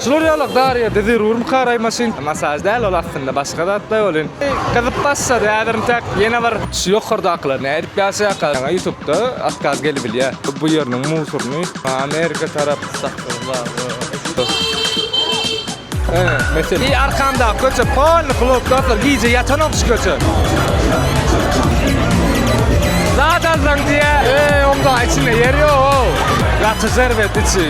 Şular ýalak zaryady zerurmyka raýmaşyn. Masaž däl ol aslynda başga zatda ol in. Gyzyp başlady häzir intäk ýene bir. Şu ýokardakylar nädip ýaşaýarka ýaňa ýutupda otkaz gelibilýä bu ýeriniň musuryny amerika tarap satdygy bar. Ene mesele. Eý arkamdaky köçe polny klub dostlar gije ýatanok şu köçe. Zat alsaň diýä. Eý oňdaky içinde ýer ýok. Gaty şerbet içi.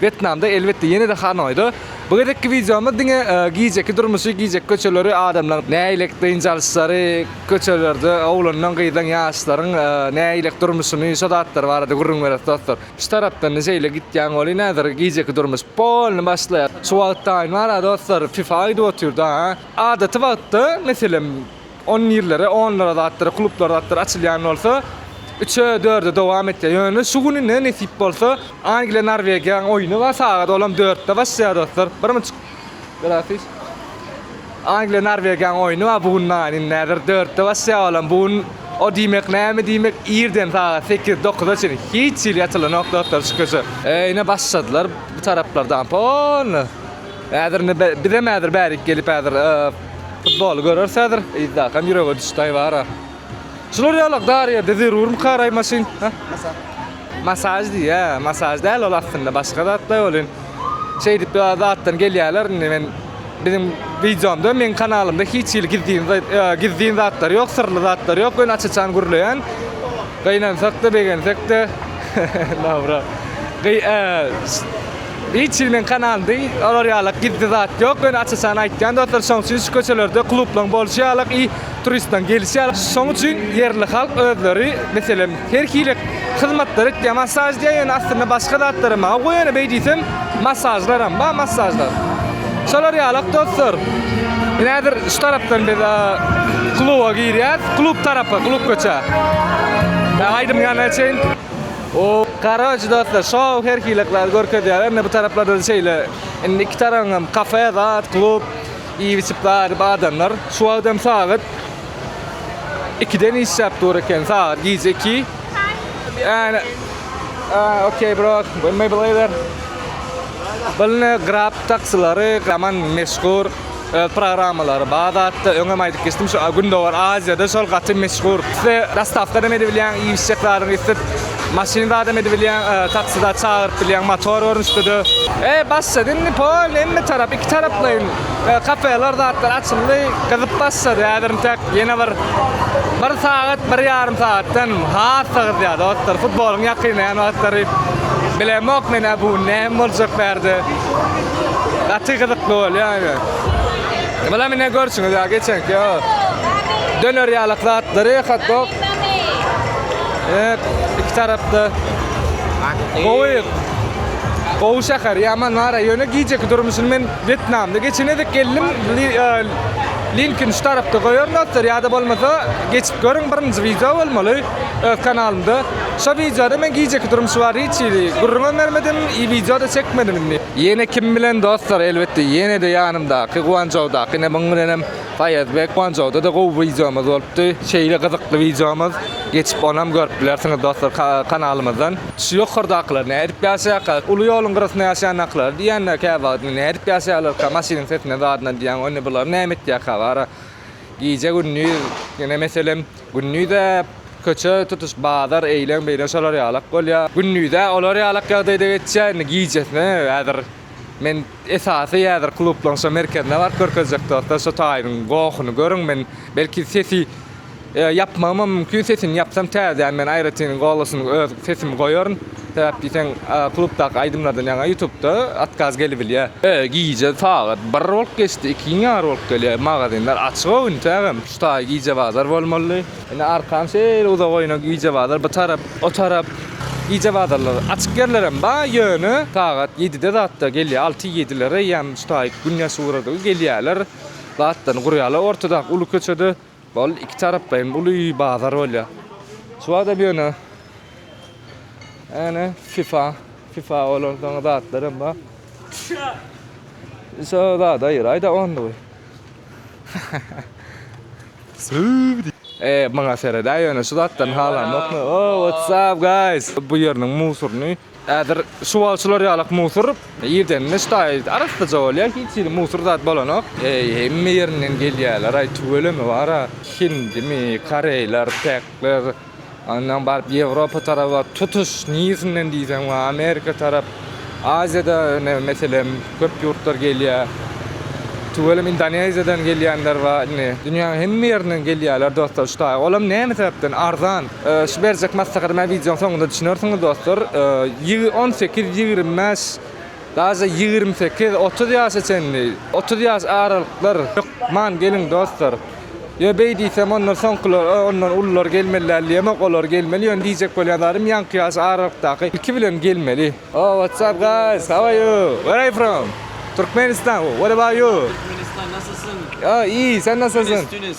Wetnamda elbetde ýene-de Hanoýda. Bu gezekki wideomyz diňe gijeki durmuşy, gijeki köçeleri, adamlaryň nähilek dynç alyşlary, köçelerde oglanlaň, gyzlaň, ýaşlaryň nähilek durmuşyny, şo zatlar barada gürrüň bereris dostlar. Şu tarapdan-da şeýle gitýän welin häzir gijeki durmuş polny başlaýar. Şu wagtdan bar-a dostlar fifa gidip otyr-da. Adaty wagtda meselem On ýerlere, onlara zatlara, klublara zatlara açylýan bolsa, üçe, dörde dowam etýär. Ýöne şu güni ne nesip bolsa, Angliýa, Norwegiýanyň oýny bar sagat, olam dörtde başlaýar dostlar. Birmi çyk. Grafiş. Angliýa, Norwegiýanyň oýny bar bu gün näme indi häzir dörtde başlaýar olam. Bu gün o diýmek näme diýmek irden sagat sekiz, dokuza çenli hiç hili açylanok dostlar şu köçe. Ine başladylar bu taraplardan pol. Häzir indi bizem häzir bärik gelip häzir. Futboly göreris häzir. Yzdakam ýürege düşdäý bara. Şular ýalak dar ýerde zerurmy karaý maşyn? Ha? Masaž diýýä, masaž däl ol aslynda başga zatlaý bolýan. Şeýdip ýa zatdan gelýärler indi men biziň wideomda meň kanalymda hiç hili gizlin za- e, gizlin zatlar ýok, syrly zatlar ýok. Men aç-açan gürleýän. Gynansak-da, begensek-de. Dobra. Gyy, e, Hiç hili men kanaldy, olar ýalak gizli zat ýok, men açaçan aýtýan dostlar şoň üçin şu köçelerde klublaň bolşy ýalak i turistlaň gelişi ýalak şoň üçin ýerli halk özleri meselem her hili hyzmatlary etýär masaž diýýär ýöne aslynda başga zatlaram bar goý ýöne beý diýsem masažlaram bar masažlar şolar ýalak dostlar men häzir şu tarapdan biz kluba girýäs klub tarapy klub köçä aýdym ýanyna çenli. Hop karoç dostlar şou her hileklary görkezýär emme bu taraplardan şeýle indi iki taraň hem kafe zat klub iýip içip daýryp adamlar şu wagt hem sagat ikiden işläp dur eken sagat gije iki ýani aaa okey bro maybe later Bilne grab taksylary gaman meşgur. Öz programmalary bar zatda öňem aýdyp geçdim şu gündogar aziýada şol gaty meşhur size dostawkadam edibilýäň iýişjek zadyňy islet maşyn zadam edibilýäň taksi zat çagyryp bilýäň motor görnüşdede. E başlady indi polny hemme tarap iki taraplaýyn kafeler zatlar açyldy gyzyp başlady häzir intäk ýene bir bir sagat bir ýarym sagatdan hassa gyzýar dostlar futbolyň ýakynlaýan wagtlary bilemok menä bu näme boljak bärde. Gaty gyzykly bolýar ýöne. Bulam ine görşüňiz ýa geçenki ýa. Döner ýalak zatlary hot dog. Evet, iki tarapda. Gowy. Gowy şäher, ýaman nara. Ýöne gijeki durmuşyny men Wýetnamda geçen gezek geldim. Linkin şu tarapda goýaryn dostlar ýa-da bolmasa geçip görüň birinji wideo bolmaly. öz kanalymda. Şo wideoda men gijeki durmuşy bar hiç hili gürrüňem bermedim i wideoda çekmedim indi. Ýene kim bilen dostlar elbetde ýenede ýanymdaky Guançžoudaky ine muň bilenem Faýazbek Guançžoudada gowy wideomyz bolupdy şeýle gyzykly wideomyz geçip onam görüp bilersiňiz dostlar kanalymyzdan. Şu ýokardakylar nädip ýaşaýarka uly ýoluň gyrasynda ýaşaýandakylar diýýänler käwagt nädip ýaşaýarlarka maşynyň sesinden zadyndan diýýän ony bular näme etýärka bara. Gije gündiz ýene meselem gündize köçe tutuş bazar eýleň beýleň şolar ýalak bolýa. Gündize olar ýalak ýagdaýda geçýä indi gijesine häzir men esasy häzir klublaň şo merkezine baryp görkezjek dostlar şo taýynyň gohuny görüň men belki sesi ýapmagymam mümkin sesini ýapsam täzeden men aýratyn golasyny öz sesimi goýaryn. Sebäp diýseň klubdaky aýdymlardan ýaňa ýutubda otkaz gelibilýär. Gije sagat bir bolup geçdi, ikiň ýary bolup gelýär, magazinler açyga üntägem. Şu taý gije bazar bolmalydy. Indi arkam şeýle uzak oýna gije bazar bu tarap, o tarap gije bazarlar açyk ýerlerem ba ýöne sagat ýedide zatda gelýär alty ýedilere ýam şu taý gün ýaşugrady gelýärler zatlaryny gurýarlar ortadaky uly köçede. Ol iki taraplaýyn uly bazar bolýar. Şu wagtam ýöne ene FIFA, FIFA bolan soň zatlar hem bar. Şu zada ýyraýda onlugy. Söwüdi. Eee, maňa seredä ýöne şu zatdan halamokmy? Oh, what's up guys? Bu ýeriniň musuryny Häzir şu wagt şular ýalak musur irdenine ştaý arassaja bolýar, hiç hili musur zat bolanok. Eý, hemme ýerinden gelýärler-aý, tüweleme bar-a. Hindimi, koreýler, pekler, ondan baryp Ýewropa taraba, tutuş niresinden diýseň bar, Amerika tarap, Aziýada ine, meselem, köp ýurtlar gelýär. Tüweleme Indoneziýadan gelýänler bar indi. Dünýäniň hemme ýerinden gelýärler dostlar ştaý. Olam näme sebäpden arzan. Şu berjek maslahatymy hem wideonyň soňunda düşünersiňiz dostlar. On sekiz, ýigrimi bäş, daže ýigrimi sekiz, otuz ýaşa çenli, otuz ýaş aralyklar hökman geliň dostlar. Ýöne beý diýsem ondan soňkular, o ondan ulular gelmeli däl diýemok, olar gelmeli, ýöne diýjek bolýan zadym ýaňky ýaş aralykdaky ilki bilen gelmeli. Oh what's up guys how are you where are you from Türkmenistan what about you Türkmenistan nasylsyň? Oh iyi sen nasylsyň? Tunis Tunis.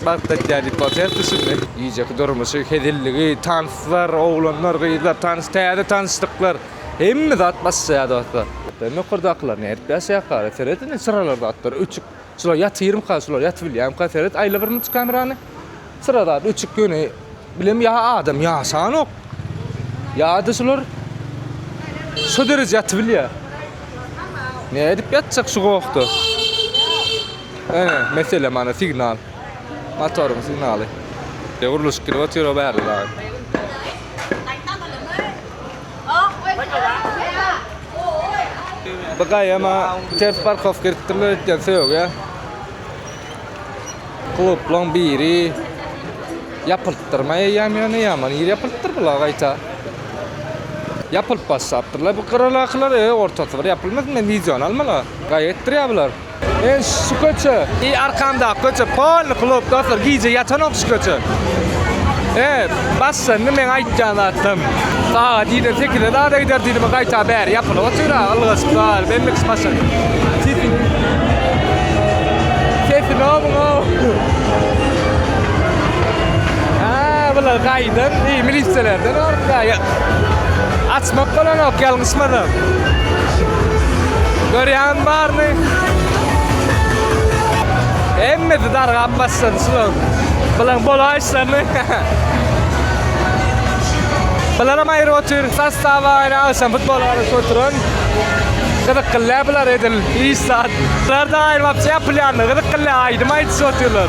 Bagt etýär diýip bolsaýypdy şindi. Gijeki durmuşy, hezilligi, tanslar, oglanlar, gyzlar, tans, täze tanyşlyklar, hemme zat başlaýar dostlar. Sen ýokardakylar nädip ýaşaýarka? Seret indi çyralar zatlar öçük. Şular ýatyrmyka, şular ýatybilýärmika? Seret aýla bir munça kamerany. Çyra zat öçük ýöne Bilem ýa adam ýaşanok. Ýa-da şular şu derejä ýatyp bilýär. Ne edip ýatjak şu gowakda? Ana, mesele mana signal. Motoryň signaly. Ýa gurluşyk gidip otyr o bärde dagy. Bu gaýama ters parkowka edipdirler öýtýän söýegi. Klublaň biri ýapyltdyrmaý eýýäm ýöne ýaman ir ýapyltdyr bular gaýta. Ýapylyp başlapdyrlar bu gyralakylar e ortasy bir ýapylmasyn men wideony almala gaý etdirýär bular. Men şu köçe i arkamdaky köçe polny klub dostlar gije ýatanok şu köçe. E Başlandy meň aýtýan zatym. Sagat ýeden sekizde zada gider diýdim, gaýta bäri ýapylyp otyr, ylgaşyp gal. Bendix başlan. Sesini. Sesini omuň o. Aa, bular gaýdan, iý milisiýalardan orta. Açmak bolanok, ýalňyşmasam. Görýän barmy? Hemmesi dargap başlandy şular. Bulan bolaýyşlaryny. Bularam aýry otyr. Sostaw aýry agşam futbol garaşyp oturan. Gyzyk gyllä bular edil iş zat. Bularda aýrybapjy ýapylýanda gyzyk gyllä aýdym aýdyşyp otyrlar.